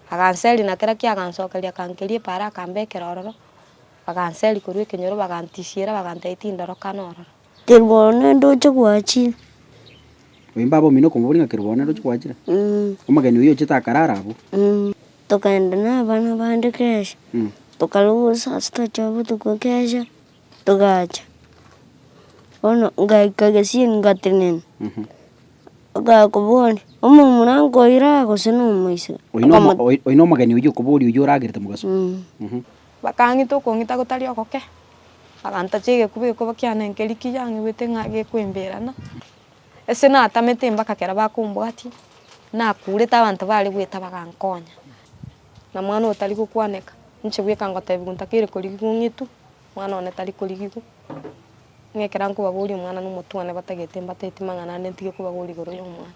Aganseria na kera kiagansokeria akankeria epaaro akambekera ororo, baganseria korwa ekenyoro bagantisiera bagantebia tindorokana ororo. Keruboro nende oche gwachire. Oyo baba omino okomobori ng'a Keruboro nende oche gwachire. Omogeni oyio ochete akarara abwo. Tokagenda na abana bande kesha. Tokaruga obusaasi tochia botuko kesha. Togacha, bono ngaika gesieri ngatenena, okaya koboria, omomura nkoiraa gose nomoiseke? Oino omo- Okamo- oi- oino omogeni oyio okoboria oyio oragerete mogaso. Mm. Mhm. Bakang'ita okong'ita gotari ogoke, bagantacha egekuba egekuba kiane nkeri kiyang'igwete ng'a gekoemberana, ase natamete mpaka ekero bakombwatia, nakurete abanto bare goeta bagankonya, na mwana otari gokwaneka, inche bweka ngotebiwa ntakeire korigigwa ng'itwe. Omwana one tari korigigwa, ng'a ekero nkobaboria omwana nomotwane batagete mbateti mang'ana ande ntige kobaboria igoro yomwana.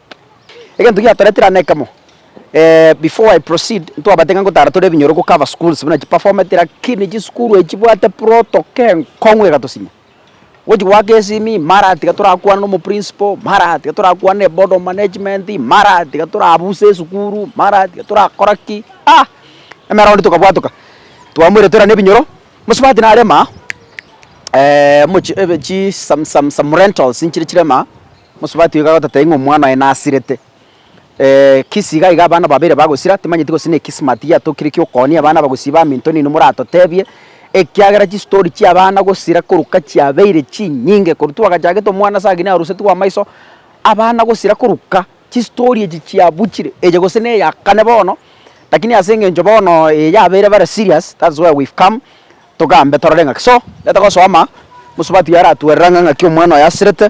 Egento giatoretire ane ekemo, before I proceed, ntwabate ng'a ngotara tore ebinyoro go cover schools buna chiperformeti lakini chisukuru eye chibwate protoko enkong'u egatosinya. Gochi goaka esimi, mara tiga torakwane na omoprinciple, mara tiga torakwane na eboard of management, mara tiga torabuse esukuru, mara tiga torakora ki, ah! Emera onde tokabwatoka, twamoire tore ane ebinyoro, mosubati narema omochi ebe chi some some some rentals nchire chirema Omosubati oyo kagototebia ng'a omwana oye nasirete, kisi iga iga abana babere bagosira, timanyeti gose ne kismat giatokire ki'okooonia abana abagusii ba minto nini moratotebie, ekiagera chistori chi'abana gosira koruka chiabeire chinyinge korwa twagachagete omwana ase agene arusetigwe amaiso, abana gosira koruka chistori echi chiabuchire eye gose na eya kane bono, lakini ase eng'encho bono eye yabeire bare serious that's why we've come togambe torore ng'aki. So, gete gosoma, omosubati oyo aratwerera ng'a ng'aki omwana oyo asirete.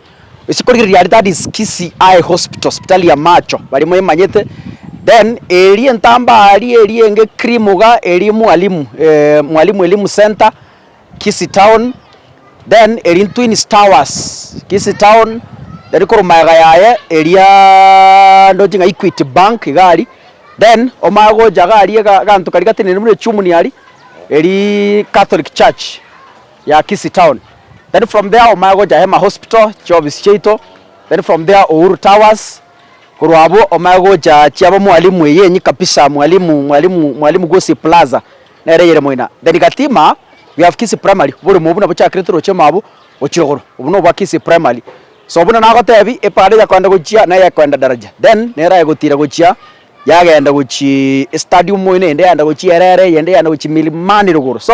Ase korigereria aria that is Kisii eye hospital sipitari ya macho baria moemanyete then eria entambaa aria eria enge cream iga eria mwalimu eeh mwalimu elimu centre Kisii town then eria Twins towers Kisii town then korwa magega yaye eriaaa ndoche ng'a Equity bank iga aria then omanye gocha iga aria ega eganto karia gatenenire buna echumuni aria eria Catholic church. ya Kisii town then from there omanye gocha Hema hospital chiofisi chiaito then from there Uhuru towers korwa abwo omanye gocha chiabo mwalimu eye enyi kabisa mwalimu mwalimu mwalimu Gusii plaza nere eyere moina then Gatima we have Kisii primary oborimo obwo nabochakire toroche mabwo gochia igoro obwo nobwa Kisii primary so buna nagotebi epara eyakoenda gochia na eyakoenda Daraja then nero egotira gochia yagenda gochii stadium moino eyende yaenda gochia Erere eyende yaenda gochia Milimani rogoro so.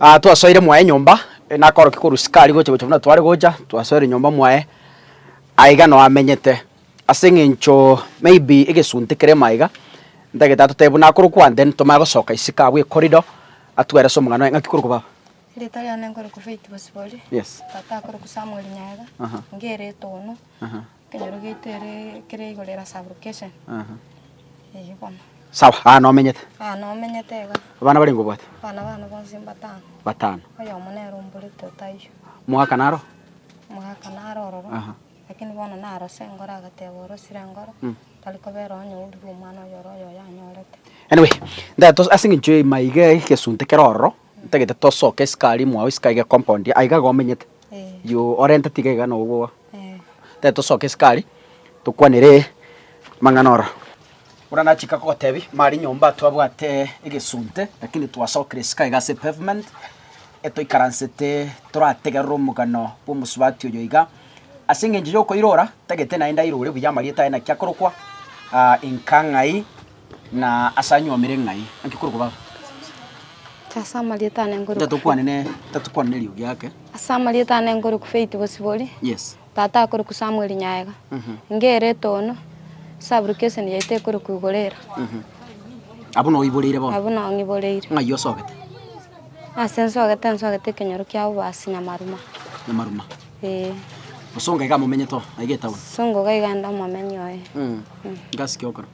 Aa twasoire mwaye nyomba, nakorokia korwa Sikari gocha gocha buna tware gocha, twasoire nyomba mwaye, aye iga noo amenyete. Ase eng'encho maybe egesunte keremo aiga, ntagete atotebie buna akore okwane then tomanye gosoka isiko abwo ecorridor, atwere ase omogano aye, ng'aki korokwa baba? Rita riane nkoroku Faith Bosibori. Yes. Tata akoroku Samuel Nyaega. Aha. Inge eretoono. Aha. Ekero gete ere ekero igoro era sublocation. Aha. Eyio bono. Sawa, aa nomenyete. Aa nomenyete iga. Abana barenge obwate? Abana bane bonsi mbatano. Batano. Oyomo nere omborete otayio. Mwaka naro? Mwaka naro ororo. Aha. Lakini bono narose engoro agateba orosire engoro. Mm. Tari kobera onye ourire omwana oyore oyo oyanyorete. Anyway, ntato ase eng'encho eima iga egesunte kere ororo. Ntagete tosoke isiko aria mwao isiko aiga compound aiga iga omenyete juu orente tiga iga no obwoba tari tosoke isiko aria tokwanere amang'ana ora buna nachika gotebi mari nyomba twabwate egesunte lakini twasokire isiko aiga ase pavement etoikaransete torategerere omogano bwa omosubati oyo iga ase engencho yokoirora ntagete naende airore buya amarieta aye naki akorokwa Inka ng'ai. Na ase anyuomire ng'ai? Naki korokwa baba? Inche ase amarieta ane nkorokwa. Inche tokwane ne, tokwane neriogi ake. Ase amarieta ane nkorokwa Faith Bosibori. Yes. Tata akorokwa Samuel Nyaega. Inga ere etono, Sub-location yaito ekorokwa Igorera. Abwo no oiboreire bono? Abwo no ng'iboreire. Ng'ai osogete? Ase nsogete, nsogete ekenyoro kia obasi Nyamaruma. Nyamaruma? Ee. Osonga iga momenyete oo, aiga etown? Songa iga ande omomenyi oye. Inga ase ki okora?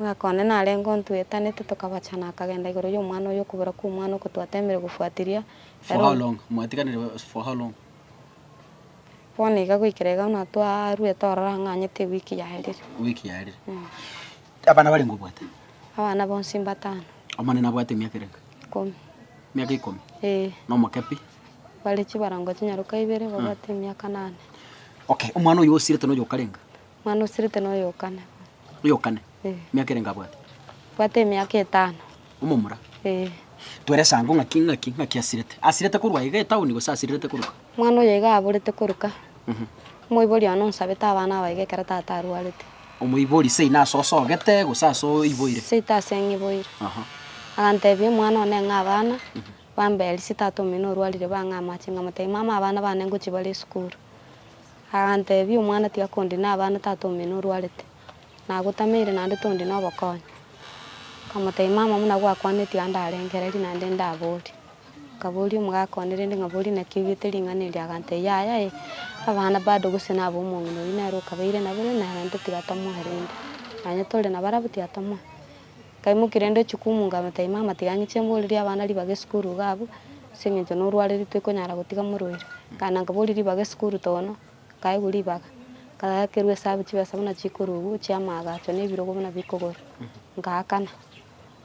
Omwaka one narenge o ntwetanete tokabacha na akagenda igoro y'omwana oyo okobera kw'omwana oko twatemire gofuatiria For how ere long? Mwatiganire ba- for how long? bono iga goikera iga buna twarwete ororo ang'anyete ewiki yaerire. Ewiki yaerire. Abana barenge obwate? Abana bonsi mbatano. Omonene abwate emiaka erenge? Ikomi. Emiaka ikomi? Ee. Na omokepi? Bare chibarango chinyaroka ibere babwate emiaka nane. Okay, omwana oyo osiretwe noyo okarenga? Mwana o Sirite noyo o kane. Oyo o kane? Ee. Emiaka erenge abwate? Abwate emiaka etano. Omomura? Ee. Twerese ango ng'aki ng'aki ng'aki asirete. Asirete korwa iga etaoni gose asirirete koruka? Mwana oyo iga aborete koruka. Omoibori one onsabete abana aba iga ekero tata arwarete. Omoibori seino ase osogete gose ase oiboire? Seito ase ng'iboire. Aha. Agantebia omwana one ng'a abana bambe eria ase tata omino orwarire bang'e amache ng'amotebi mama abana bane ngochia bare esukuru. Aganteebia, Omwana tiakondi na abana tata omino orwarete, na agotameire naende tondi nobokonyi. Nkamotebia, Mama, buna gwakwaneti ande arengereria naende ndaborie. Nkaboria omogaka one rende ng'a, Boria naki oigete ring'ana erio? Aganteebia, Yaya e, abana bado gose nabo omong'ina oyio nere okabeire nabere, naende tiga tomoe rende. Nonya tore nabarabwo tiga tomoe. Kaimoki rende ochie koumunga amataima amatiganyi chimborerie abana ribaga esukuru iga abwo, ase engencho norwariri toikonyara gotiga morwaire. Nkaenda nkaboria ribaga esukuru tono, nkaegwa ribaga, nkakerwa esabu chibesa buna chikorugwa chia amaagacho na ebirogo buna bikogorwa, ngaakana.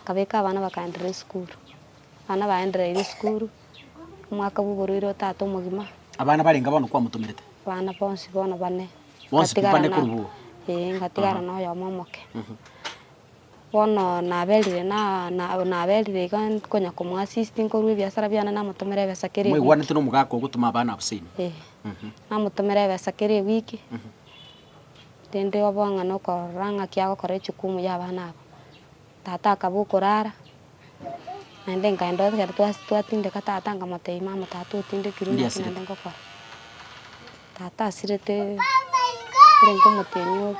Nkabeka abana bakaenderera esukuru, abana baendereire esukuru, omwaka bwa oborwaire otato omogima. Abana barenge bono kwamotomerete? Abana bonsi bono bane. Bonsi pi bane korwa iga? Ee, ngatigara noyomo omoke. Bono naberire, na naberire iga nkonya komoassist nkorwa ebiasara biane namotomera ebesa kera ewiki. Mwaigwanete nomogaka ogotoma abana abasore inwe? Eh. Namotomera ebesa kera ewiki, rende obe ng'a nokorora ng'aki agokora echukumu ya abana aba. Tata akaba okorara, naende nkaenda ekero twas twatindeka tata nkamotebia mama tata otindekirwe Ninde naki naende asirete? ngokora. Tata asirete, ore nkomotienyi ore.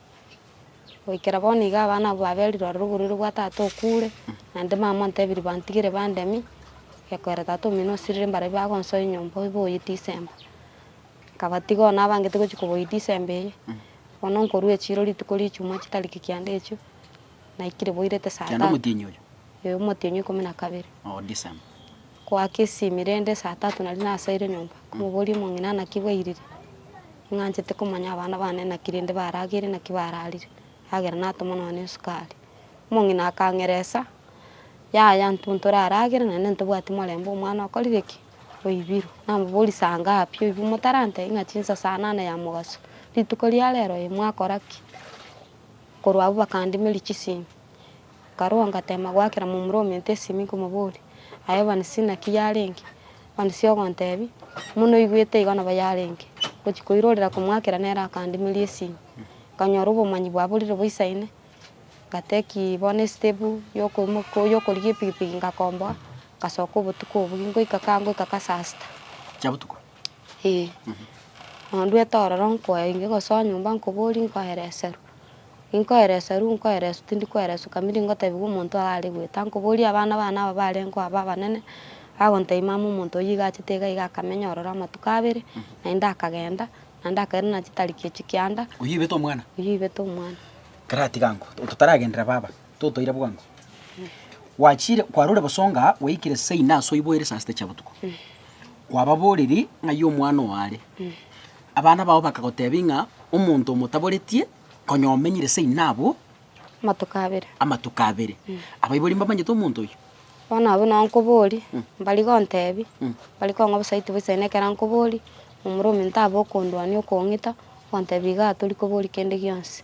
Goikera bono iga abana abwo baberire ororo oborwaire bwa tata okure, naende mama ontebiri bantigere bandemi, gekoera tata omino osirire mbarobi bagonsoa enyomba oiboye disemba. Nkabatiga oo nabangete gochia koboyia disemba eye, bono nkorwa echiro rituko ria echumaa chitariki kianda echio, naikire boirete saa Kianda tatu. omotienyi oyo? Ee, omotienyi ikomi na kabere. Oo disemba. Goaka esimi rende saa tatu naria nasaire nyomba komoboria omong'ina naki bwairire. Ing'anchete komanya abana bane naki rende barageire naki bararire. Yagera natoma nonya esukari. Omong'ina akang'eresa, yaya intwe ntoraragere naende ntobwati morembe omwana okorire ki? Oibirwe. Namoboria saa ngapi oibirwe motarantebia ng'a chinsa saa nane ya mogaso. Rituko ria rero oye mwakora ki? Korwa abwo bakandimeria chisimi. Nkarua ngateema goakera momura ominto esimi nkomoboria, Aye Evanisi, naki yarenge? Evanisi ogontebia, Buna noigwete igo nabo yarenge. Gochia koirorera komoakera nere akandimeria esimi. Nkanyora obomanyi bwaborire boisaine, ngateki bono esitepu yokoimoka yokorigia epikipiki ngakomboa, ngasoka obotuko obwo, ngoika kaa ngoika kaa saa sita. Chiabotuko. Ee, nonduete ororo nkoe inge gosoa nyomba nkoborie nkoereserwe. Ninkoereserwe nkoereswe tindi koereswa kabinde ngotebiwa omonto oyo are goeta. Nkoborie abana bane aba barengo aba abanene, bagontebia mama omonto oyio iga achete iga iga akamenya ororo amatuko abere, naende akagenda, naende akaira na chitariki echio kianda, Oyio oibete omwana? oyio oibete omwana. Karatiga nko, totaragenderera baba. Totoire bwango. Gwachire, kwarure bosonga, gwaikire saa ina ase oiboire saa sita chia botuko. Kwababorerie ng'ai omwana oo are. Abana bao bakagotebia ng'a omonto omotaboretie konya omenyire saa ina abwo Amatuko abere. amatuko abere. Abaibori mbamanyete omonto oyio? Bono abwo nao nkoborie, mbari gontebi, mbari kong'a bosa aitwe boisae na ekero nkoborie, momura ominto abe okondwania okong'ita, ogontebi igaa tori koboria kende gionsi.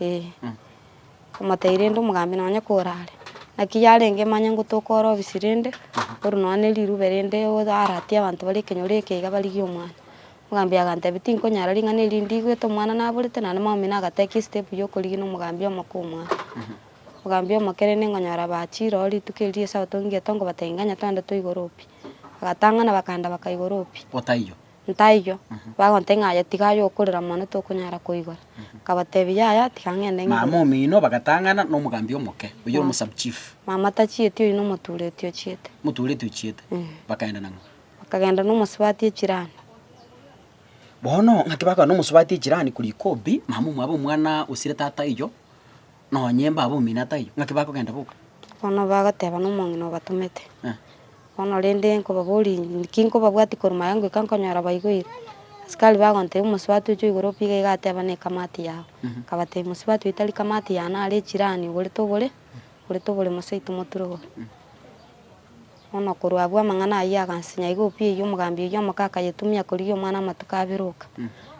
Ee, komotebi rende omogambi nonye kore are. Naki yarenge manye ngotoka ore obisi rende, oru nonya ne rirube rende oaratie abanto bare ekenyoro eke iga barigie omwana. Omogambi agantebi tinkonyara ring'ana eri ndigwete omwana naborete naende mamaino agatekia estep ya okorigi na omogambi omoke omwana. Omogambi omoke rende nkonyora bachire ororo rituko eri ria esabato ngigete nkobatebi nganya twende toigoro pi. Bagatang'ana bakanda bakaigoro pi. Otaiyo. Ntaiyo, bagontebia ng'a, Yatiga aye okorera mono tokonyara koigora. Akabatebia, Yaya, tiga ng'ende ng'ire. Mama omino bagatang'ana nomogambi omoke, oyio ore omosabuchief. Mama tachieti, oyio nomotureti ochiete. Omotureti ochiete. Bakaenda nang'o? Bakagenda nomosubati echirani. Bono, ng'aki bakogenda nomosubati echirani korwa ikobi, mama omwabo omwana osire tata oyio. Nonya emba aba omino ataiyo, ng'aki bakogenda boka? Bono bagoteba, Nomong'ina obatomete. Bono rende nkobaborie inche, Inki nkobabwatia korwa maega ngoika nkonyora baigwire? Asikari bagontebia, Omosubati oche oigore opiga iga ateba, Nekamati yao. Akabatebia, Mosubati oyo tari kamati yane, are echirani, oborete obore, oborete obore mosaito moturugore. Bono korwa abwo amang'ana ayio agansinya iga obuya eyio omogambi oyio omoke akayetumia korigia omwana amatuko abere oka.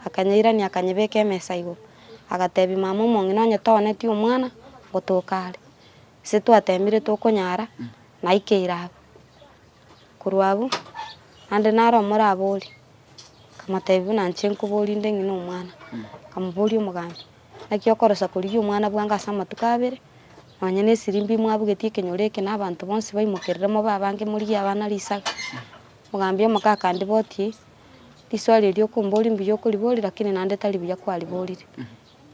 Akanyeirania akanyebeka emesa igoro, agatebia, Mama omong'ina onye toonetie omwana, ngotoka are. Ase twatemire tokonyara, naikeire aba. Korwa abwo, naende nare omorabori. Akamotebia, Buna inche nkoborie inde ng'ina omwana. Akamoboria omoganda, Naki okorosa korigia omwana bwango ase amatuko abere? Nonya nesirimba imwabugetie ekenyoro eke, na abanto bonsi baimokerere mobe abange morigie abana risaga. Omogambia omoke akandibotie, Riswali eri okomboria mbuya okoriboria, lakini naende tari buya kwariborire.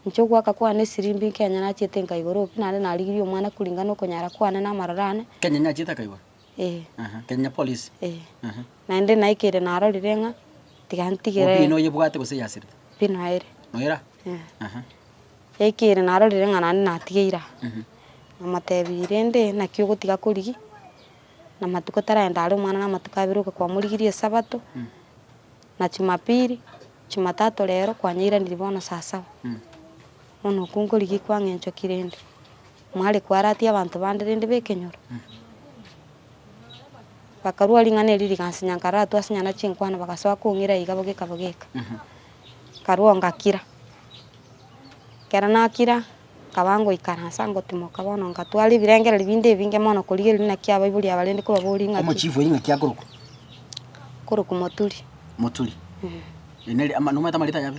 Inche ogoaka kwane esirimba inke onye nachiete nkaigora obi, naende narigirie omwana koringana na okonyara kwane na amaroro ane. Kenya inyachiete akaigora. Eh. Aha, Kenya Police. Eh. Aha. Naende naikire narorire ng'a tiga Obi ntigere noyebwate gose yasirete? pi noere. Noera? Eh. Aha. Yaikire narorire ng'a naende natigeire aa. Mhm. Namotebia rende naki ogotiga korigia, na matuko taragenda are omwana na amatuko abere oka kwamorigirie esabato, Mm. na chumapiri, chumatato rero kwanyeiranirie bono saa saba. Mm. Bono okwo nkorigia kwang'enchoki rende. Mware kwaratia abanto bande rende b'ekenyoro, bakarua ring'ana erio rigansinya nkaratua ase nyana chinkwana bagasoa kong'ira iga bogeka bogeka, nkarua ngakira. Ekero nakira nkaba ngoikara nsa ngotimoka bono ngatwara ebirengererio binde ebinge mono korigereria naki abaibori aba rende kobaboria ng'aki. Omochifu oyo ng'aki akorokwa? Akorokwa Moturi. Moturi. Eeh. Ere nere ama- nomanyete amarita yabo?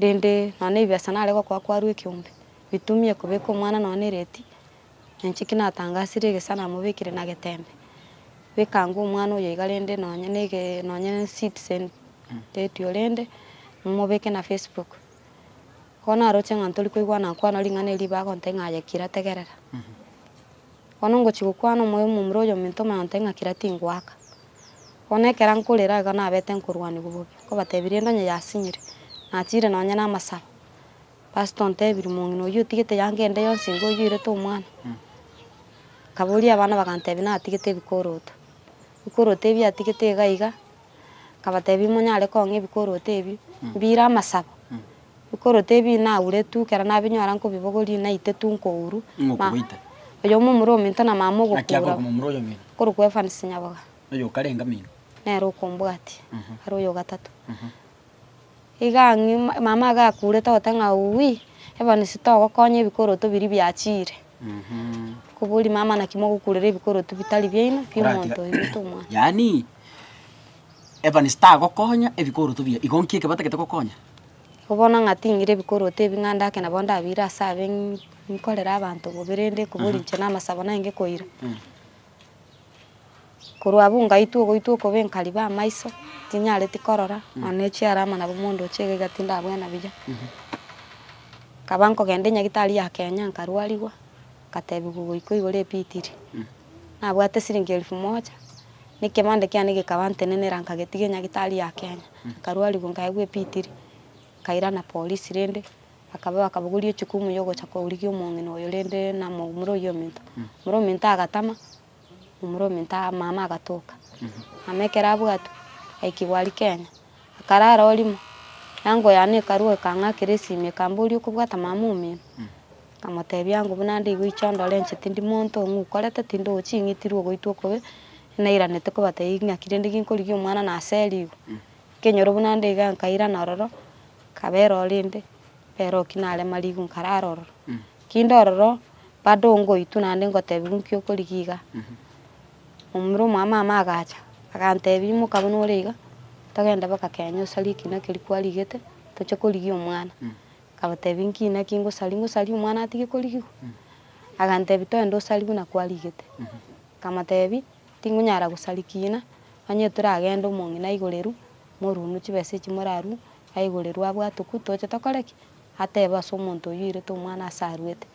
Rende nonya ebibesa nare gokoa kwarwa ekeombe, bitumie kobeka omwana nonya ereti, na inche ki natangasire egesa namobekire na getembe. Bekanga omwana oyo iga rende nonya na ege nonya na citizen radio rende momobeke na Facebook. Bono aroche ng'a ntori koigwana nkwana ring'ana eri ribe agontebia ng'a aye kira tegerera. Bono ngochia gokwana omoyo omomura oyominto omoyonte ng'a kera tingoaka. Bono ekero nkorera igo nabete nkorwanigwa bobe, nkobatebia rende onye yasinyire, nachiire nonye namasabo. Pastor ontebirie, Mong'ina oyio otigete eyango ende yonsi nigo oyoirete omwana? Nkaboria abana bagantebia natigete ebikoroto. Ebikoroto ebio atigete iga iga. Nkabateebia, Monyare kong'a ebikoroto ebi mbire amasabo. Ebikoroto ebi inauretu, ekero nabinyora nkobibogoria, inaitetu nkouru. Ng'a Ma- okobaita. Oyomo omura ominto na mama Naki ogokuura, akorokwa momura oyo omino, okorokwa Evans Nyaboga, oyo okarenga mino. nere okombwatia, are oyo ogatato. Iga ang'e mama agakuurete gote ng'a Uui, ebonsi togokonya ebikoroto biria biachiire. Koboria mama naki mogokuurera ebikoroto bitari biaino bi'omonto oyo bita omwana. Yaani, ebonsi tagokonya ebikoroto bia igo nki ekebatagete gokonya? Igo bono ng'a ting'ire ebikoroto ebi ng'a ndake nabo ndabiire ase abe ng- ng'korere abanto bobe rende koboria inche namasabo naye ngekoira. Korwa abwo ngaitwa ogoitwa okobe nkariba amaiso, tinyareti korora, nonya ne echiara ama nabo mondo oche iga iga tindabwena buya. Nkaba nkogenda enyagitari ya Kenya nkarwarigwa, nkatebiwa ogoikwa igoro ebitiri. Nabwate esiringi elfu moja, na ekebande kiane gekaba ntenenera nkagetigia enyagitari ya Kenya, nkarwarigwa nkaegwa ebitiri, nkairana polisi rende. Akaba akabogoria echukumu y'ogocha kourigia omong'ina oyo rende namoumore oyio ominto. Omura ominto agatama, omura ominto mama agatoka. Mama ekero abwatwe, aikigwa aria Kenya, akarara orimo. Eango yane ekarua ekang'akera esimi ekamboria okobwata mama omino? Nkamotebia ango buna nde igo inche ondore inche tindi monto ng'a okorete tindi ochi ng'itirwe ogoitwa okobe, nairanete kobatebia ng'aki rende ginkorigia omwana naseri igo. Nkenyora buna nde iga nkairana ororo, nkaba ere orende, ere oki nare marigu nkarara ororo. Kinde ororo bado ngoitwa naende ngotebiwa nki okorigia iga. Omura omwamama agacha agantebia imoka buna ore iga, togende boka Kenya osarie ekina keria kwarigete toche korigia omwana. Nkabatebia nki naki ngosaria, ngosaria omwana atige korigigwa? Agantebia toende osarie buna kwarigete. Nkamotebia. Tinkonyara gosarikiina, onye toragende omong'ina aigoreru, morunu chibesa echi morarue, aigoreru abwate okwo toche tokore ki? Atebe ase omonto oyio oirete omwana ase aruete.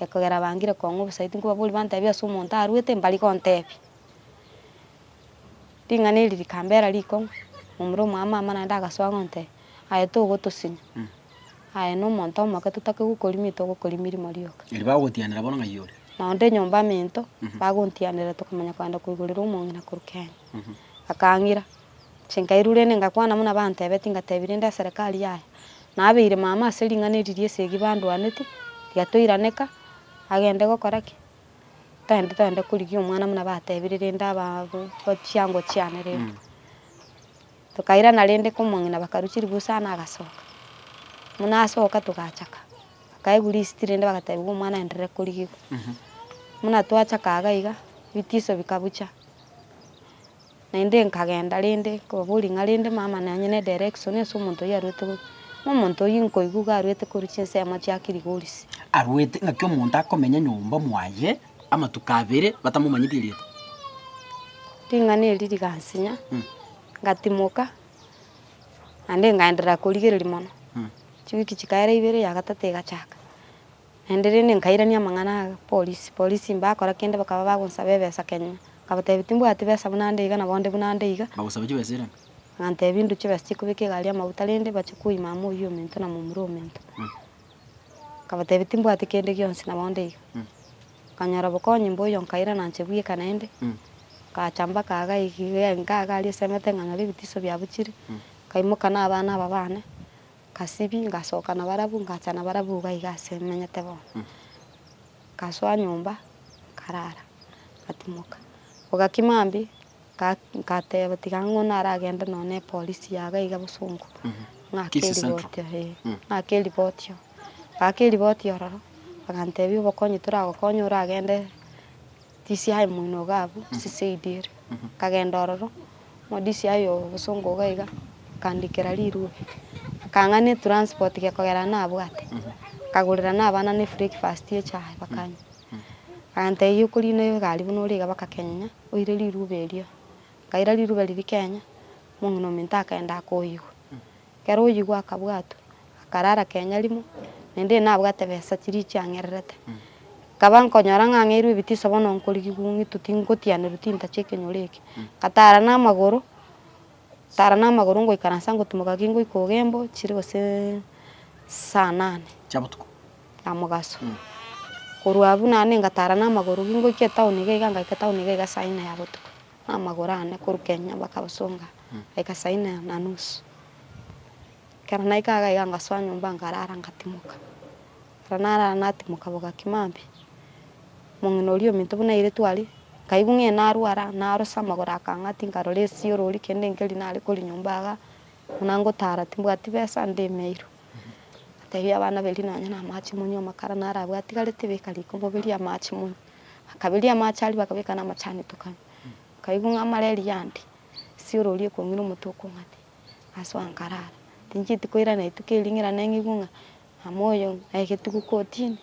Ekogera bangire kong'a obosayo tinkobaboria bantebie ase omonto aruete mbari gontebia. Ring'ana eri rikambera rikong'u, momura omwamama naende agasoa gontebia, aye togotosinya. Aye nomonto omoke totake gokorimia togokori mirimo rioka. Erio bagotianera bono ng'ai ore. Na onde nyomba amento, bagontianera tokamanya kogenda koigorera omong'ina korwa Kenya. Akang'ira, chinkairure ende ngakwana buna bantebetie ngatebia rende eserekari yaya nabeire mama ase ring'ana eri riesegi bandwaneti tiga toiraneka agende gokora ki? Togende togende korigia omwana buna batebire rende aba chiango chiane rende. Tokairana rende komong'ina bakarusia ribusi aa nagasoka. Buna asoka togachaka, bakaegwa risiti rende bagatebiwa omwana aenderere korigigwa. Buna twachaka iga iga ebitiso bikabucha, naende nkagenda rende kobaboria ng'a rende mama nonye ne direction ase omonto oyio arwete korwa. Buna omonto oyio nkoigwa iga arwete korwa chinsemo chiakirigorisia. Arwete ng'aki omonto akomenya nyomba mwaye. amatuko abere batamomanyeti erieta. Ring'ana eri rigansinya, ngatimoka, naende nkaenderera korigereria mono. Chiwiki chikaera ibere ya gatato egachaka, naende rende nkairania amang'ana aya polisi, polisi mbakora kende bakaba bagonsaba ebesa Kenya, nkabatebia timbwati besa buna nde iga nabo nde buna nde iga, Bagosabe chibesa erange. bantebia ndwe chibesa chikobeka egari y'amauta rende bache koima amo oyio omento na momura omento. Nkabatebia, Timbwati kende gionsi, nabo onde iga. Nkanyora obokonyi mboiyo, nkaira nanche bweka naende. Ngacha mbaka iga iga enka iga aria esemete, nkanyora ebitiso biabuchire. Nkaimoka na abana aba bane, ngasibia, ngasoka nabarabwo, ngacha nabarabwo iga iga ase menyete bono. Ngasoa nyomba, nkarara, ngatimoka. Bogaki mambia, nga, ngateba tiga ng'o naragende nonya ne epolisi yaga iga bosongo, ng'ake Kisii Central. eriboti oo, eh, Mm. ng'ake eriboti oo. Ng'aka eriboti ororo, bagantebia obokonyi toragokonye oragende. Tisia aye moino iga abwo, siseidi ere. Akagenda ororo, modisia aye ogosonga iga iga, akandikera rirwe. Akang'ana etranspoti ria kogera nabwate. Akagorera nabana ne ebreakfast ye echae bakanywa. Akantebi okorina egari buna ore iga bakakenyenya, oire riruba erio. Nkaira riruba riria kenya, omong'ina ominto akagenda akoigwa. Ekero oyigwa akabwatwa, akarara kenya rimo, na inda enabwate besa chiria chiang'ererete. Nkaba nkonyora ng'ang'eirwe ebitiso bono nkorigigwa ong'ito tingotianerwa tintache ekenyoro eke. Nkatara namagoro, tara namagoro ngoikaransa ngotimoka ki ngoika ogembo chire goseee saa nane. Chia botuko. Na mogaso. Korwa abwo naende ngatara namagoro ki ngoika etown iga iga ngaika etown iga iga saa inne ya botuko. Amagoro ane korwa kenya mpaka bosonga daika saa inne na nusu. Ekero naika iga iga ngasoa nyomba nkarara ngatimoka. Ekero narara natimoka bogaki maambia, omong'ina oria ominto buna airetwe aria, nkaigwa ng'a narwara narosa amagoro akang'ati nkarora esiorori kende nkeri nare korwa nyomba iga buna ngotara timbwati besa ndemeirwe. Nkateebia abana beria nonye na amache monywe amakara narabwatigarete beka riko moberie amache monywe. Bakaberia amache aria, bakabeka namachani etokana. Bakaigwa ng'a amare eriande, esioro eria ekong'ira omote okong'ata, asoa nkarara. Tinchieti koirana rituko erio ng'ira neng'igwe ng'a mama oyo na egetugo kotini,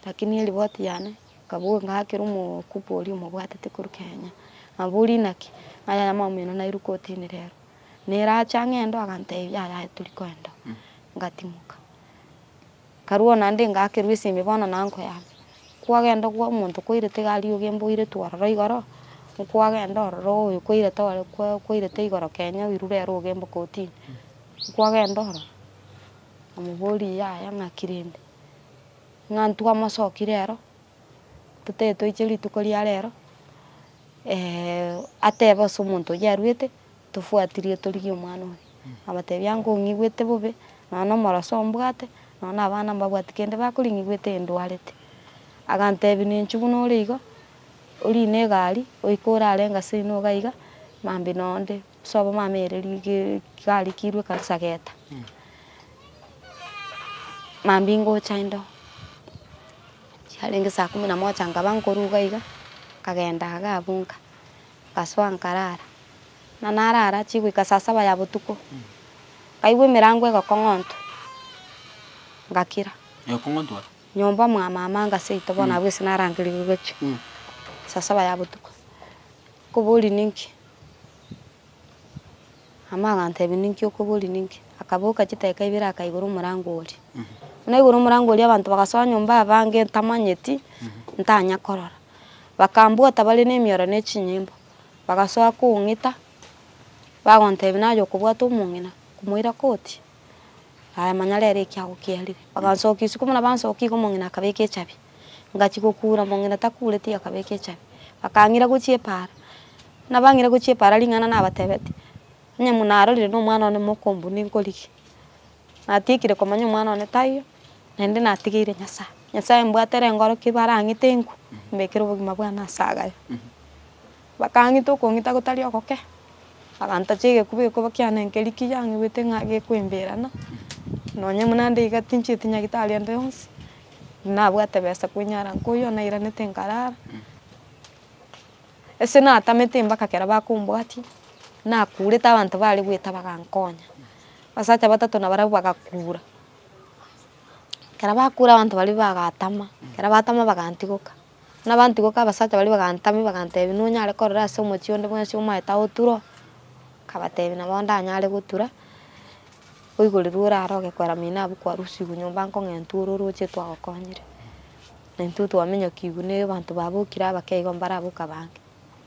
rakini eriboti yane ekabua ng'aakera omokubi oria omobwatete korwa Kenya, nabori naki? Ng'a yaya mama oino nairwe kotini rero. Nerache ang'e ndo, agantebia yaya yaya tori koenda oo. Ngatimoka. Karua onande ngakerua esimi bono nankoyame. Kwagenda okwa omonto kwairete egari oge mboirete ororo igoro, nkwagenda ororo oyo kwairete ore kwa kwairete igoro kenya oirure ere oge mbo kotini. Nkwagenda ororo, namoboria yaya ng'aki rende, ng'a ntwamosooki rero, totae toiche rituko ria rero atebe ase omonto oyio aruete. Tofuatirie torigie omwana oria. Abatebie, Ango ong'igwete bobe, nonya nomoroso ombwate, nonya nabana mbabwati kende bakore ng'igwete ndwarete. Agantebia, Nenchwe buna ore igo, orine egari, oike ore are engase ino iga iga, mambia na onde, sobo mama ere rige egari kirwe ekansa geta. Mambia ngocha indo, chiarenge saa kumi na moja nkaba nkorwa iga iga, nkagenda iga abwo nka. Ngasoa nkaraara, na naraara chigoika saa saba ya botuko, nkaigwa emerango egokong'ontwa, ngakira. Egokong'ontwa? Nyomba mwa mama anga seito, bono abwo ase narangerigwe gochia saa saba ya botuko. Nkoboria ninki? Amo agatebia, Ninki okoboria ninki? Akaboka chitaika ibere akaigora omorango oria. Buna aigora omorango oria abanto bagasoa nyomba abange ntamanyeti, ntanya korora. Bakambwata bare nemioro ne chinyimbo, bagasoa kong'ita, bagontebia naye okobwata omong'ina, komoira koti, aye manya rero eki agokiarire. Bagansokia isiko buna bansokia igo omong'ina akabeka echabi. Ngachia gokuura mong'ina takuureti akabeka echabi. Bakang'ira gochia epaara, nabang'ire gochia epaara ring'ana nabatebetie, onye buna narorire na omwana one mokombu ninkorigia. Natiekire komanya omwana one taiyo, naende natigeire Nyasaye. Nyasaye mbwatere ngorokia ebara ang'ete enkwe, mbekere obogima bwane ase agaye. Bakang'ita okong'ita gotari ogoke, bagantacha egekuba egekuba kiane nkeria kiyaang'igwete ng'a gekoimberana, nonye buna nde iga tinchieti nyagetari onde onsi, nabwate besa koinyara nka oyio nairanete nkarara, ase natamete mpaka ekero bakombwatia, nakurete abanto bare goeta bagankonya, abasacha batato na barabwo bagakura, ekero bakura abanto baria bagatama, ekero batama bagantigoka. Nabanto goka abasacha baria bagantamia bagantebia, nonyare korora ase omochie onde bwensi omaete aye oture oo? Nkabatebia nabo ndanyare gotura, oigoreru orare ogekwera mino abwo kwarusigwe nyomba nkong'entwa ore oroche twagokonyire. Na intwe twamenyokigwe na abanto babokire abake igo mbare abwo okabange.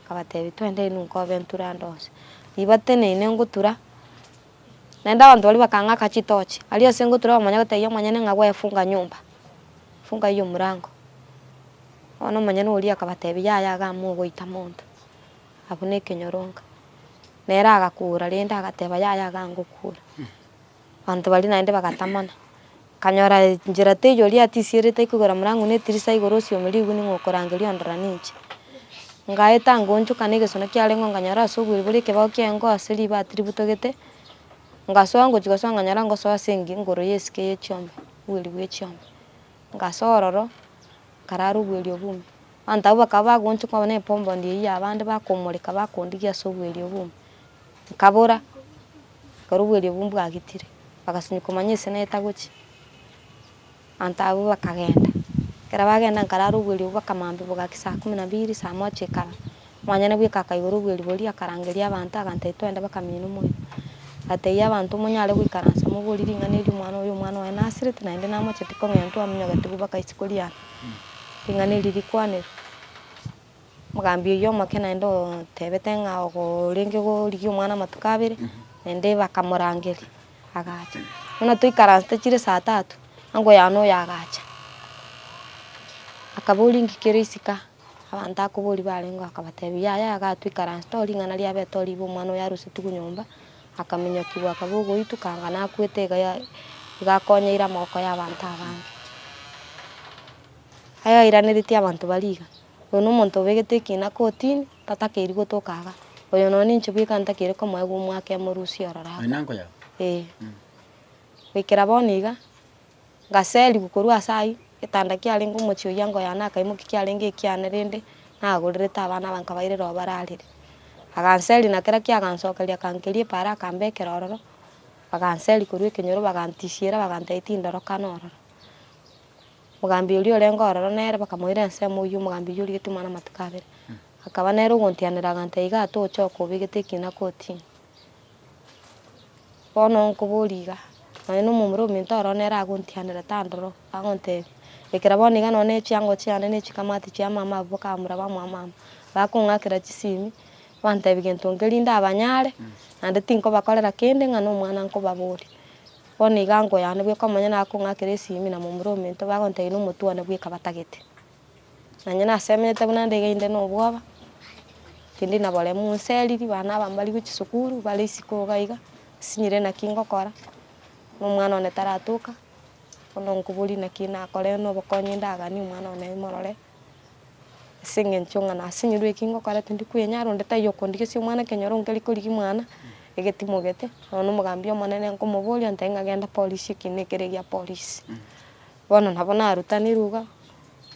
Nkabatebia twende inwe nkobe nture ande onsi. Riba teneine ngotura. Naende abanto baria bakang'aka chitochi. Aria ase ngotura omonyene gotebia omonyene ng'a gwefunga nyomba, funga eye omorango. Bono omonyene oria akabatebia, Yaya iga amo ogoita monto, abwo nekenyoronka. Nere agakuura rende agateba, Yaya iga ngokuura. Abanto baria naende bagatamana. Kanyora enchera teiyo oria atisierete koigora morango na etirisa igoro osiome riguni ng'a okorangeria ondora ninche. Ngaeta ngoonchoka na egesona kiarengeo nkanyora ase oboriri bore ekebao ki'engo ase ribaati ributogete, ngasoa ngochia gosoa nkanyora ngosoa ase engi igoro y'esike ye chiombe, obweri bwe chiombe. Ngasoa ororo, nkarara obweri obwo ime. Abanto abwo bakaba bagoonchoka onya na epomboo ndie ey'abande bakomoreka bakondigia ase obweri obwo ime. Nkabora, ekero obwerio obwo mbwagitire, bagasunywa komanya ise naye tagochia. Abanto abwo bakagenda, ekero bagenda nkarara obwerio obwo bwaka maambia bogaki saa kumi na biri, saa moja ekaba. Omwanyene bweka akaigora obwerio boria akarangeria abanto agatebia twende bakamenya nomwene. Agatebia abanto monyare goikaransa moborie ring'ana erio omwana oyo omwana one nasirete naende namocheti kong'entwa amenyogete bakaisikorieaa ring'ana eri rikwanerwe. Omogambi oyio omoke naende otebete ng'a orenge gorigia omwana amatuko abere, naende bakamorangeria, agacha. Buna toikaransete chire saa tatu, ango yane oyo agacha. Akaboria inki kere isiko, abanto akoboria barenge akabatebia yaya iga toikaransete oo ring'ana riabete oo ribe omwana oyo arusetigwe nyomba, akamenyokigwa akaba ogoituka anga nakwete iga ya iga akonyeire amaboko ya abanto abange. aye oiraneretie abanto baria iga, oyo na omonto obegete ekina kotini, tatakeiri gotoka iga, oyo nonye ninche bweka ntakeire komoegwa omwaka emorusia ororo aba. Oyo nanko yago. Eeh. Goikera bono iga, ngaserigwa korwa ase ayio, getanda kiarenge omochie oyio anga oyane akaimokia kiarenge ekiane rende, nagorerete abana abange nkabairera aho bararire. Aganseria na kera kiaye agansokeria akankeria epaara akambekera ororo, baganseria korwa ekenyoro bagantisiera bagantebia tindorokana ororo. Omogambi oria orenge ororo nere bakamoira ensemo oyio omogambi oyio origetie omwana amatuko abere. Akaba nere ogontianera agantee iga ata ochoka obegete ekina kotini. Bono nkoboria iga, nonye na omomura ominto ororo nere agontianera tandora oo, agontebia, ekera bono iga nonye na echiango chiane na echikamati chia mama abwo bakamura bamoa mama, bakong'akera chisimi, bantebia gento nkeri nda abanyare, naende tinkobakorera kende ng'a na omwana nkobaboria. Bono iga nkoyana bwe ko monyene akong'akera esimi na momura omento bagontegena omotuone bweka batagete. Na inye nasemenyete buna nde iga inde nobwoba, tindi na boremu, nseriri, bana aba mbarigwe chisukuru bare isiko iga iga, nsinyire naki ngokora, na omwana one taratoka, bono nkoboria naki nakore na obokonyi ndaganie omwana one imorore. Ase engencho ng'a nase enyoru eke ngokora tindi kwenyara, onde taiyo okondigesia omwana ekenyoro nkeri korigia mwana, egetimogete, nonya omogambi omonene nkomoboria ontebia ng'a genda polisi eke nekere gia polisi. Bono nabo narutanirwe iga,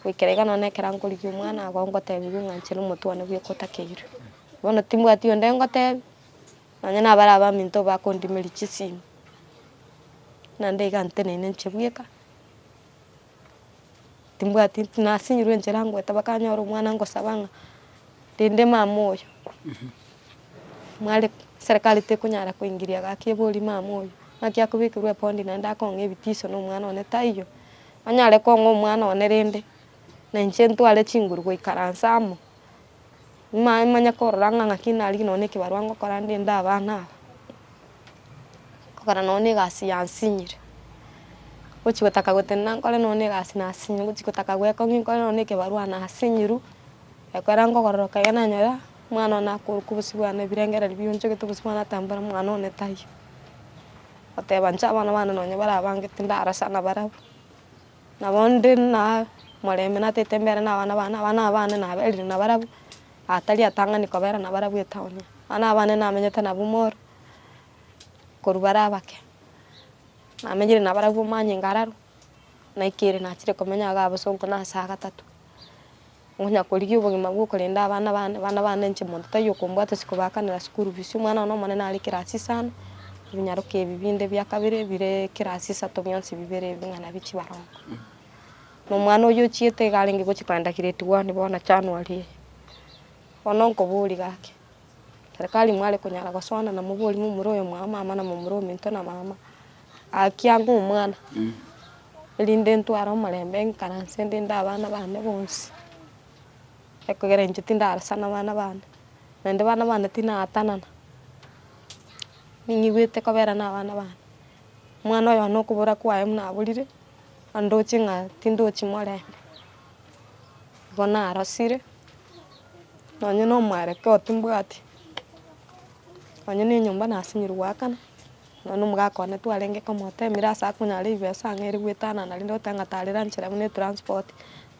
goikera iga nonya na ekero nkorigia omwana agwo ngotebiwa ng'a nchera omotwe one bweka otakeirwe. Bono timbwati onde ngotebia, nonya na abare abaminto bakondimiria chisimu, naende iga nteneine nche bweka. Timbwati nasinyirwe enchera ngoeta mpaka nyore omwana ngosaba ng'a rende mama oyo mware serikali tekonyara koingiria gaki ebori mama oyo naki akobekirwe ebodi naende akong'a ebitiso na omwana one taiyo, anyare kong'a omwana one rende na inche ntware chinguru goikaransa amo Manye korora ng'a ng'aki narigie nonya ekebarua ngokora ndende abana aba, ngokora nonya egasi yansinyire, ngochi gotaka gotenena nkore nonya egasi nasinyire, ngochi gotaka goeka ng'ai nkore nonya ekebarua nasinyirwe, ekero ngogororoka iga nanyora omwana one akoruka obosio bwane ebirengererio bia onchogete obosio bwane ata mbora omwana one taiyo, oteba inche abana bane nonya barabangete ndarasana barabwo. Nabo inde nomorembe natete embere nabana bane, abana aba bane naberire nabarabwo, atari atang'ani kobera nabarabwo etaoni. Abana aba bane namenyete nabwo mall, korwa bare abake, namenyire nabarabwo manyinga aroro, naikire nachire komenya iga abasongo nase agatato. Onkonya korigia obogima bw'okorenda abana bane, abana bane inche monto taiyo okombwata ase kobaakanera school fees, omwana one omonene are class isano, ebinyaroke ebi binde bia kabere bire class isato bionsi bibere ebi ng'a nabio chibarongo. Na omwana oyio ochiete iga arenge gochia kogenda grade one bono January eye. Bono nkoboria gaki, serikali mware konyara gosoana na moborie momura oyo mwago mama na momura ominto na mama. Gaki anga omwana, erinde ntware omorembe nkaranse ndinde abana bane bonsi, ekogera inche tindarasana abana bane, naende abana bane tinatanana, ning'igwete kobera na abana bane, omwana oyo one okobora kwaye buna aborire, andoche ng'a tindochi morembe, igo narosire, nonye na omwarokeo timbwati, nonye na enyomba nasinyorwa goakana. Nonya omogaka one twarenge komoteemire ase akonyare ribesa ang'e ere goetanana rende goteeba ng'a tari lunch rabe ne transport,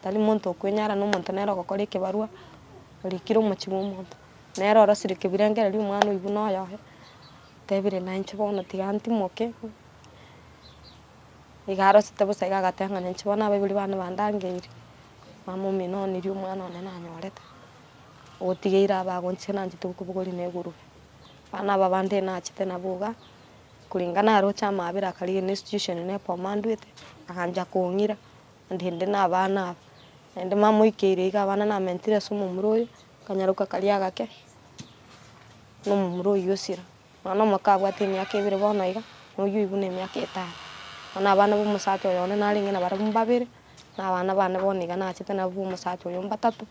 tari monto okwenyara na omonto nere ogokora ekebarwa orikire omochie bwa omonto. Nere orosirie kebirengereri omwana oyio buna oyoye, otebire na inche bono tiga ntimoke, iga arosete bosa iga agateba ng'a na inche bono abaibori bane bandangeire, mama omino onirie omwana one nanyorete, ogotigeire abe agonchire nainche tokobogori na egurube. Abana aba abanto enachete nabo iga, koreng'ana naroche amaabera akarigereria ne institution eye nekomandwete, agancha kong'ira onde inde na abana aba, naende mamoikeire iga abana namentire ase omomura oyo, nkanyaroka karia agake na omomura oyio osira. Omwana omoke abwate emiaka ebere bono iga, na oyio buna emiaka etano. Bono abana ba omosacha oyo one narenge nabarabwo mbabere, na abana bane bono iga nachete nabo ba omosacha oyo mbatato,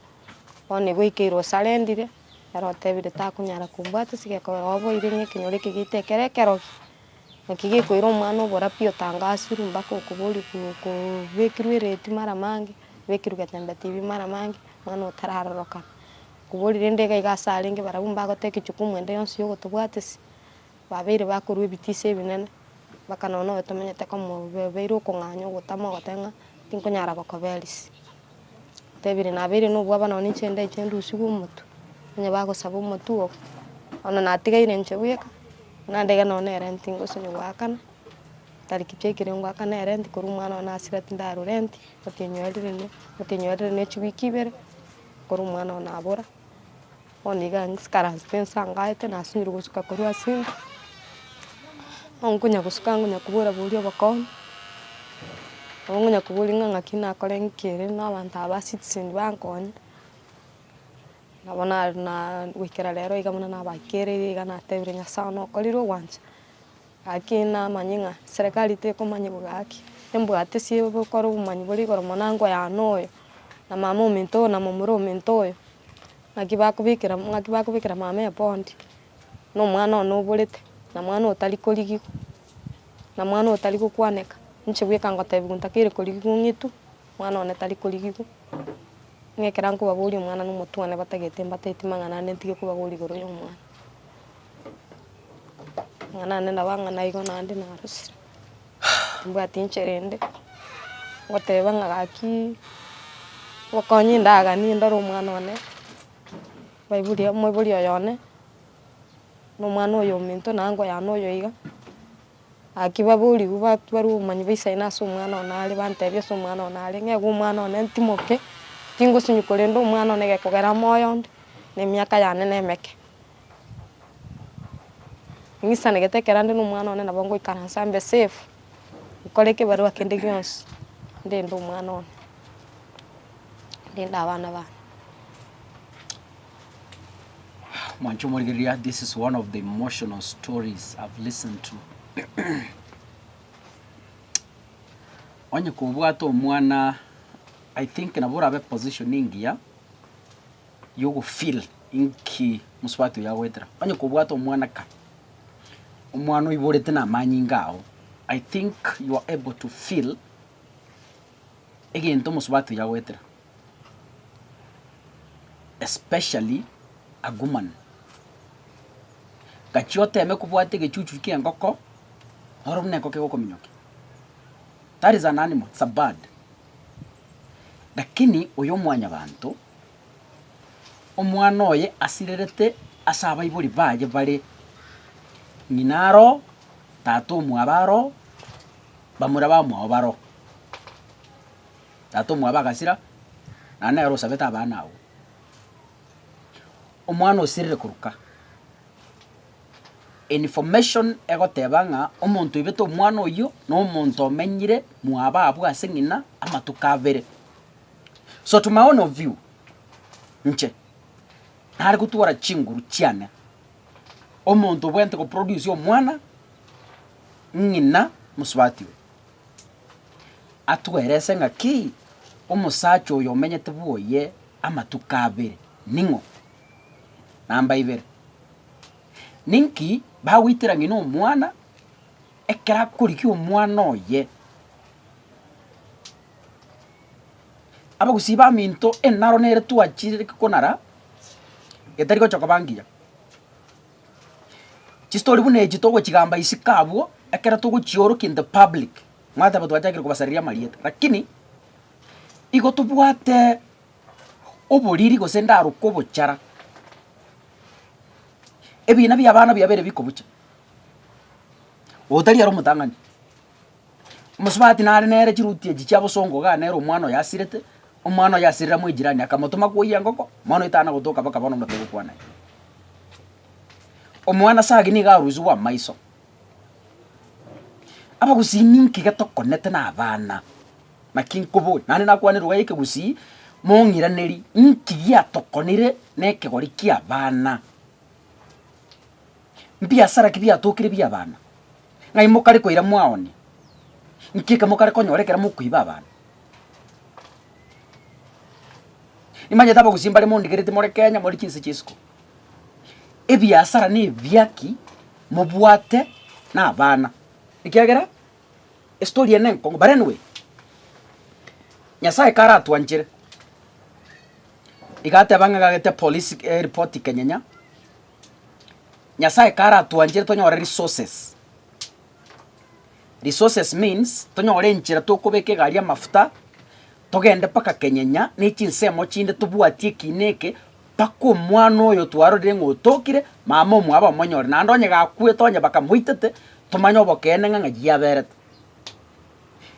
bono igo ekeire osarendire. Ere otebire takonyara kobwata ase gekogera waboire ng'a ekenyoro eke geito ekero ekerogi, naki gekoira omwana obora pi otangasirwe mpaka okoboria kobekirwe ereti mara mange, obekirwe getembe tv mara mange, omwana otararorokana. Okoboria rende iga iga ase arenge barabwo mbagoteba ekechukumu ende yonsi ya ogotobwatisia, Babeire bakorua ebitiso ebinene, bakanora noyo tomenyete komobeire okong'anya ogotama ogoteba ng'a tinkonyara gokoberisia. Otebire nabeire nobwabo nonye ninche ndache ndusigwe omotwe, onye bagosaba omotwe oo, bono natigaire inche bweka, naende iga nonye na erenti ngosibia goakana, tari ki chie ekero ngoakana erenti korwa omwana one asira tindarwa renti, otinyore rende, otinyore rende chiweek ibere, korwa omwana one abora. Bono iga nkaranse pe nse angaete nasinyire gosuka korwa ase inse, bono nkonya gosuka nkonya kobora bori obokong'u, nabo nkonya kobori ng'a ng'aki nakore ng'iki ere na abanto aba ba citizen bankonye, nabo na na goikera rero iga buna nabakereire iga natebire Nyasaye okorire ogwancha. Gaki namanye ng'a Serekari tekomanya bo gaki, embwate sie gokora obomanyi bore igoro mono ango y'ane oyo, na mama ominto oyo, na momura ominto oyo, ng'aki bakobekera ng'aki bakobekera mama eboondi, na omwana one oborete, na mwana otari korigigwa, na mwana otari gokwaneka, ninche bweka ngotebiwa ntakeiire korigigwa ong'itwe, mwana one tari korigigwa, ng'a ekero nkobaboria omwana nomotwe one batagete mbateti mang'ana ande ntige kobaboria igoro y'omwana. Amang'ana ande nabo ang'ana igo naende narosire, timbwati inche rende, ngoteba ng'a gaki obokonyi ndaganie ndore omwana one, mbaibori moibori oyo one, na omwana oyo ominto naye nkoyane oyo iga, gaki baboriwu ba- barwa obomanyi bwa isaino ase omwana one are bantebia ase omwana one are, ng'a iga omwana one ntimoke, tingosinywa korenda omwana one egekogera moyo onde, na emiaka yane nemeke. Ng'isanegete ekero nde nomwana one nabo ngoikaransa mbe safe, nkore ekebarua kende gionsi ndinde omwana one, ndinde abana baane. Mwanche omorigereria this is one of the emotional stories I've listened to onye kobwate omwana I think nabo orabe position engiya y'ogofeeler inki mosubati oyo agoetera. Onye kobwate omwanaka, omwana oiborete namanyinga ao, I think you are able to feel egento mosubati oyo agoetera, especially a goman. Gachia oteme kobwata egechuchu ki'engoko, noro buna engoko egokominyokia. That is an animal, it's a bird. Lakini oyo omwanyabanto, Omwana oye asirerete ase abaibori baye bare, ng'ina aro, tata omwabo aro, bamura bamwao baro. Tata omwabo agasira, naende nere osabete abana abwo. Omwana osirire koruka, information egoteba ng'a omonto oibete omwana oyio, na omonto omenyire mwabo abwo ase ng'ina amatuko abere. So to my own of view, inche nare gotwara chinguru chiane omonto obwenerete go produce omwana, ng'ina mosubati oyo, atuerese ng'aki omosacha oyo omenyete bwoye amatuko abere ning'o. Namba ibere, ninki bagoitera ng'ina omwana ekero akorigia omwana oye. Abagusii baminto enaro nere twachire konara etari gocha koba ngiya. Chistori buna echi togochigamba isiko abwo ekero togochiorokia in the public mwateba twachakire kobasareria amarieta lakini igo tobwate oboriri gose ndaroka obochara ebina biabana biabere bikobucha otari ere omotang'ani. Omosubati nare nere chiruti echi chia bosongo iga nere omwana oyo asirete, omwana oyo asirire amo ejirani akamotoma koiyia engoko, omwana oyo tana gotoka mpaka bono omotebe kwana aye. Omwana sagi niga arusigwe amaiso. Abagusii ninki getokonete na abana, naki nkoboe, naende nakwane lugha ya ekegusii, mong'iraneri inki giatokonire na ekegori kia abana. Mbiasara ki biatokire bia abana. ng'ai mokare koira mwaone? Nki eke mokare konyora ekero mokoiba abanto? Nimanyete abagusii mbare mondigereti more Kenya more chinse chia isiko. Ebiasara na ebiaki mobwate na abana ekiagera estory eye nenkong'u but anyway, Nyasaye karatwanchere iga ateba ng'a iga agete polisi eripoti Kenyenya. Nyasaye karatwanchere tonyore resources. Resources means tonyore enchera tokobeka egari amafuta, togende mpaka kenyenya na echinsemo chinde tobwatie eki na eke, mpaka omwana oyo twarorire ng'a otokire, mama omwabo omonyore, naende onye gakwete onye bakamoitete, tomanye obokeene ng'a ng'ai yaberete.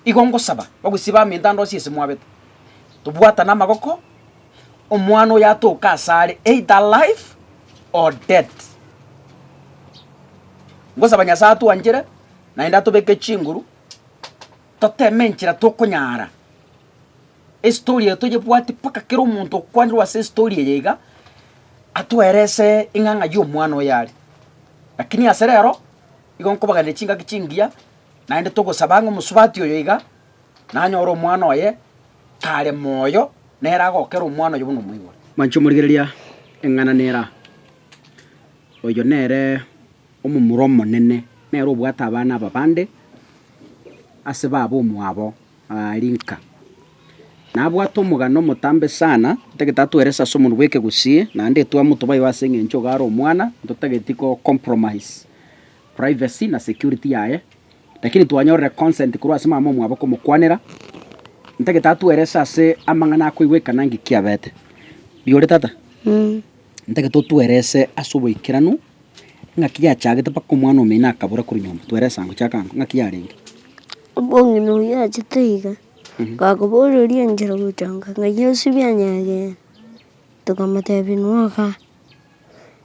Igo ngosaba bagwesiba ime ntandosie ase mwabete, tobwatane amagoko, omwana oyo atoke asare either alive or dead. Ngosaba Nyasae atwanchere naende atobeke chinguru toteme enchera tokonyara estory eye toyebwati mpaka kera omonto okwanirwe ase estory eye iga atwerese ing'ang'a yomwana oyo are. Lakini ase rero igo nkobaganera chingaki chingiya. Naende togosaba ng'a omosubati oyo iga nanyore omwana oye are moyo, nere agokera omwana oyo buna omoibore. Manche omorigereria eng'ana nera, oyo nere omomura omonene, nere obwate abana aba bande ase baba omwabo aria nka. Nabwate omogano omotambe sana, otagete atwerese ase omonwa bw'ekegusii, naende etwamotwe bayibe ase eng'encho iga are omwana, totageti ko compromise privacy na security yaye, lakini twanyorire consent korwa ase mama omwabo komokwanera, ntake tatuerese ase amang'ana akoigwa ekana nki kiabete. Rigoria tata? Ntake totuerese ase oboikeranu ng'aki yachagete mpaka omwana omino akabora korwa nyomba, tuerese ango, chaka ango, ng'aki yarenge. Omong'ina oyio achete iga, bakoboreria enchera gochanga ng'a Yesu bianyegeire, tokamotebia inwe ogaa.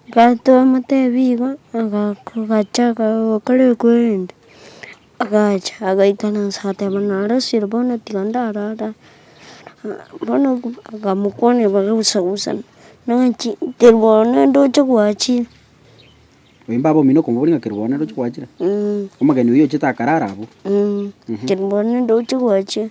Gatomotebia igo agacha gokora equeriment agacha agaikana inse agateba nare esiro bono tiga ndarara bono akamokwana bagagusagusa naki keriboro nende oche gwachire. Oyio mbaba omino okomoboria ng'a keriboro nende oche gwachire? Omogeni oyio ochete akarara abwo? Keriboro nende oche gwachire.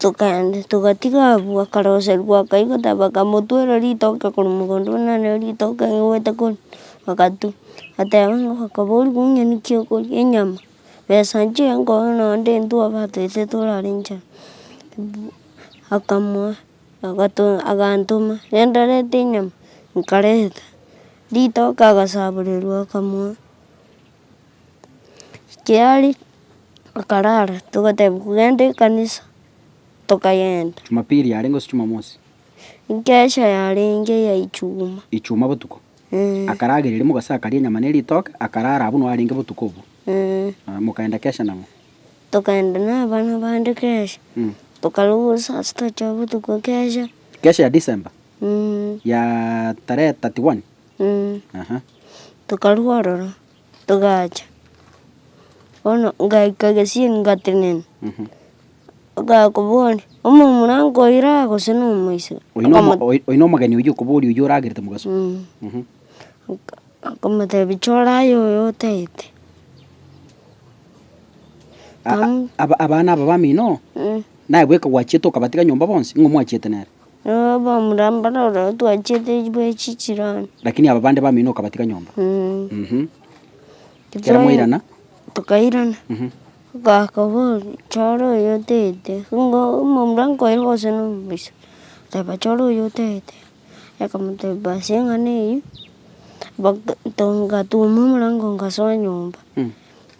Tokaenda togatiga abwo akaroserigwa akaigwa taba bakamotwera ritoke korwa mogondo buna none ritoke riaigwete korwa agatu ateba ng'a okobori kong'ina naki okoria enyama besa nchire nkoe naende intwe abatagete torare nchara akamoa agato agantoma rende arete enyama nkareta ritoke agasaborerwa akamoa. Kiaria akarara togateba kogenda ekanisa tokagenda. Jumapili yarenge gose Jumamosi? Nkesha yarenge eya echuma. Echuma botuko? Eeh. Akarageria riria mogase akaria enyama ne ritoke, akarara abwo nao arenge botuko obwo? Eeh. Aya mokaenda kesha nang'o? Tokaenda na abana bande kesha. Mmh. Tokaruga saa sita chia botuko kesha. Kesha ya December? Mmh. Ya tarehe thirty one? tokarua ororo togacha, bono ngaika gesieri ngatenena, okaya kobori omomura nkoira gose na omoiseke. Oino omo- oi- oino omogeni oywo okobori oywo oragerete mogaso. Oka- okomotebi choraye oyo otaete. A- a- aba- abana aba bamino, naye bweka gwachiete okabatiga nyomba bonsi, ng'o mwachiete nere? Obomura mbare ororo twachiete bwe chichirani. Lakini aba bande bamino okabatiga nyomba. Ekero mwairana. Tokairana. Ogaaka boria, chora oyo otete. Nigo omomura nkoira gose no omoisa. Teba chora oyo otete. Akamoteba ase eng'ana eyio, gatuma omorango ngasoa nyomba.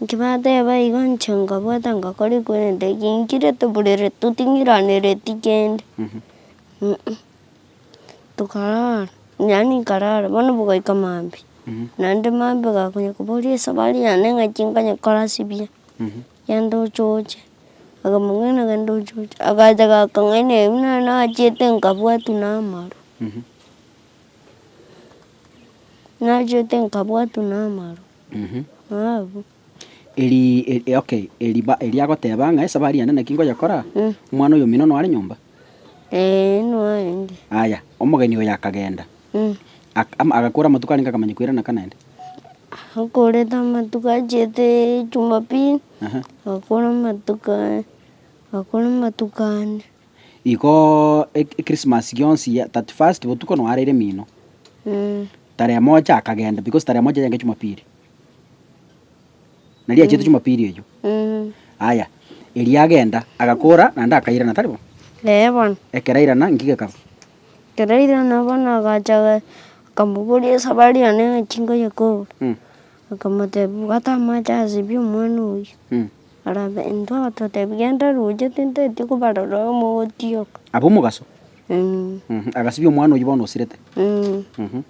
Inki bateba igo, inche nkabwata ngakora korende eki nkire toburere toting'iranereti kende tokarara, yaani nkarara bono bogoika maambia, naende maambia gakonya koboria esabari yane ng'aki nkonya korasibia, genda ochoche, akamong'ina genda ochoche, agacha gakang'aina ebi nari nachiete nkabwatwa na amaru, nachiete nkabwatwa na amaru. Abu. Eri, eri okay, eri ba, eri agoteba ng'a esabari yane naki ngoyekora, omwana oyo omino noare nyomba? Ee, noende. Aya, omogeni oyo akagenda. Mm. Ak, ama, agakora amatuko arenge akamanya koirana ka naende. Akorete amatuko achiete Jumapili, Aha. agakora amatuko, agakora amatuko ane. Igo Ekrismasi gionsi ya 31st botuko noaraire mino. Tarehe moja akagenda because tarehe moja yaenge Jumapili. Nari achete Jumapili eyio. Aya, erio agenda agakora naende akairana, tari bo? Ee bono. Ekero airana nki gekaba? Ekero airana bono agacha aga- akamoboria esabari yane ng'a chinko yekobua. Akamotebia bwata amache asibie omwana oyio. Barabe, intwe abatotebia genda roche tintaetie kobarora oo mogotioka. Ab'omogaso? Mh-m, agasibia omwana oyio bono osirete. Mh-m.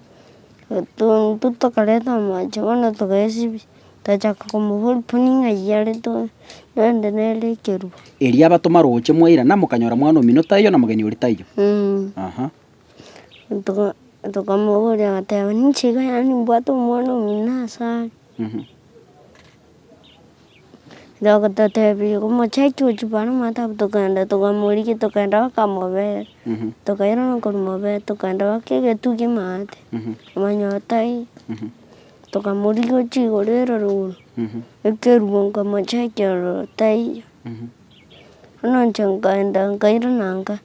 Intwe tokareta amache bono togaesibia, togachaka komoboria buna ng'ai are to- rende nere ekerubo. Erio abatoma roche mwairana, mokanyora mwana omino taiyo na mogeni oria taiyo? Mh-m. Aha. Toka- tokamoboria agateba, ninche iga yaani mbwate omwana omino asare. Bagototebia, Omochaicho oo chibare omanyete abwo, tokagenda tokamorigia tokagenda bakamobera, tokairana okomobera, tokagenda baka egetwe kia amaate, omanya otaiyo, tokamorigia ochia igoro eroro igoro, ekerubo nkamochaikia ororo otaiyo, bono inche nkagenda nkairana nka,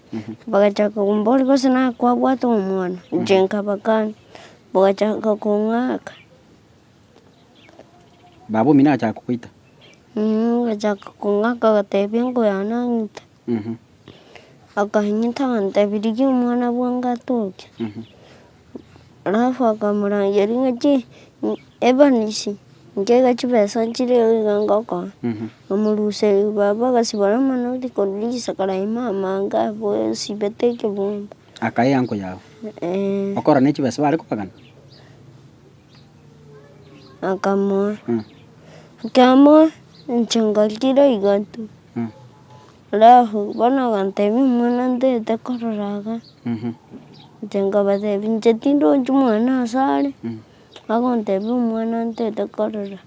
bagachaka komboria gose nakwabwate omwana, inche nkabakania, bagachaka kong'aka. Baba omino agachaka kogoita. Agachaka kong'aka agatebia engo yane ang'ite. Akang'ita agatebia rigia omwana bwango atoke. Alafu akamorangeria ng'a chi ebanisie nkeiga chibesa chire iga iga ngokoa. Amoruseria baba agasibora amanoti korwa risiko riaye mama ango abwo esibete ekebunga. Akaea engo yao. Okora ne chibesa bare kobagana. akamoa, ekemoa inche ngarigia iga tu, alafu bono agantebia omwana ntagete korora iga, inche nkabatebia inche tindochi omwana ase are, agontebia omwana ntagete korora.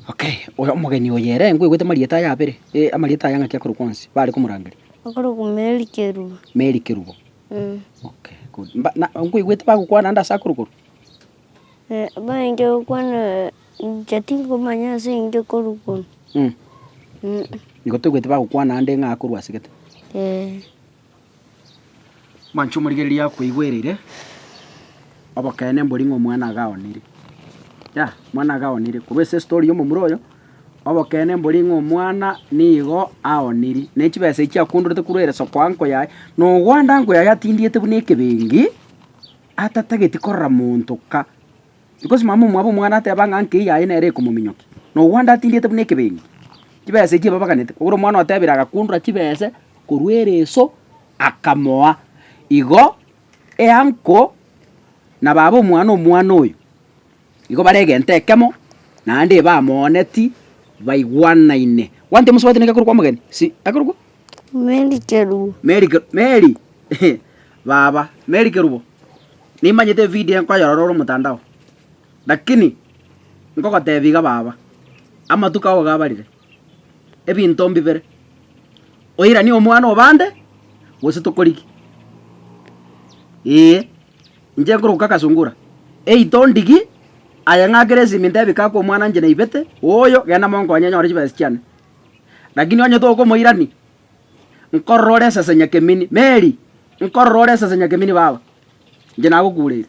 Okay, oyo omogeni oyo ere nkoigwete amarieta aye abere, amarieta aye ng'aki akorokwa onsi, bare komorangeria? Akorokwa Mary Kerubo. Mary Kerubo. Mm. Okay, good. Mba- na- Nkoigwete bagokwana ande ase akoro korwa? Eh, Baenche gokwana inche tingomanya ase inche korwa kono. Mm. Mm. Nigo toigwete bagokwana ande ng'a akorwa ase gete. Eh. Mwanche omorigereria akweigwereire, obokeene mbori ng'a omwana agaonire. Yah, omwana agaonire. Korwa ase story ya omomura oyo, Obokenene mborie ng'a omwana nigo aoniri, ne chibesa echi akundorete korwa ere soko ankoyae, na ogwande ankoyae atindiete buna ekebengi, atatageti korora monto ka. Because mama omwabo omwana ateba ng'a nkei yaye nere ekomominyokia, na ogwande atindiete buna ekebengi. Chibesa echi ebabaganete, kogera omwana otebire agakundora chibese korwa ere eso, akamoa. Igo eanko na baba omwana omwana oyo. Igo bare egento ekemo, naende ebamooneti, baigwanaine. One time mosubati neke korokwa omogeni? Si, ekorokwa? Meri Kerubo. Meri Ke- Meri baba, Meri Kerubo. Nimanyete evideo nkoyorora ore omotandao. Lakini, nkogotebia iga baba, amatuko ao iga abarire, ebinto mbibere, oiranie omwana obande, gose tokorigie. Eeh. Inche nkoroka agasungura, Ei tondigi! Aye ng'akire esimi ntebi kaka omwana inche naibete, oyo, genda monkonye anyore chibesa chiane. Lakini onye tokomoirania, nkorora ore esese nyakemini. Mary, nkorora ore esese nyakemini baba. Inche nagokureire.